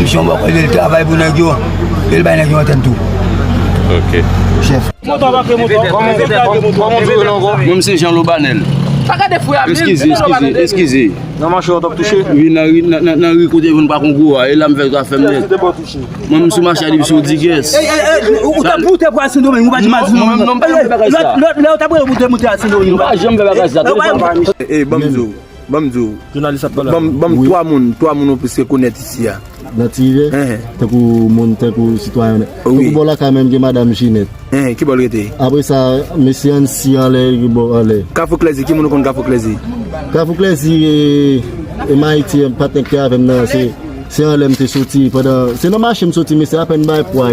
Misye yon bon koze li travay pou nèg yo e li bay nèg yo antèn tou. Chèf. Mwen m se Jean Lobanel. Eskize, eskize, eskize. Wi nan ri, nan ri kote moun pa konn gwo a, e la m fè zafè m nèt. Mwen m sou mache a li m sou Diguès. Mwen m pa janm fè bagay sa. Ban m di w, ban m 3 moun, 3 moun ou plis rekonèt isi a. Nan ti rivyè? Enhen. Tankou moun, tankou sitwayen. Wi. Tankou bò lakay menm gen madam Jinèt. Enhen, ki bò l rete? Apre sa, mesye Ansi anlè, ki bò anlè. Kafou Klèzi, ki moun ou konn Kafou Klèzi? Kafou Klèzi, e m Ayiti, patnè k te avè m nan, se anlè m te soti pandan, se nan mache m soti, mesye apèn bay pwa.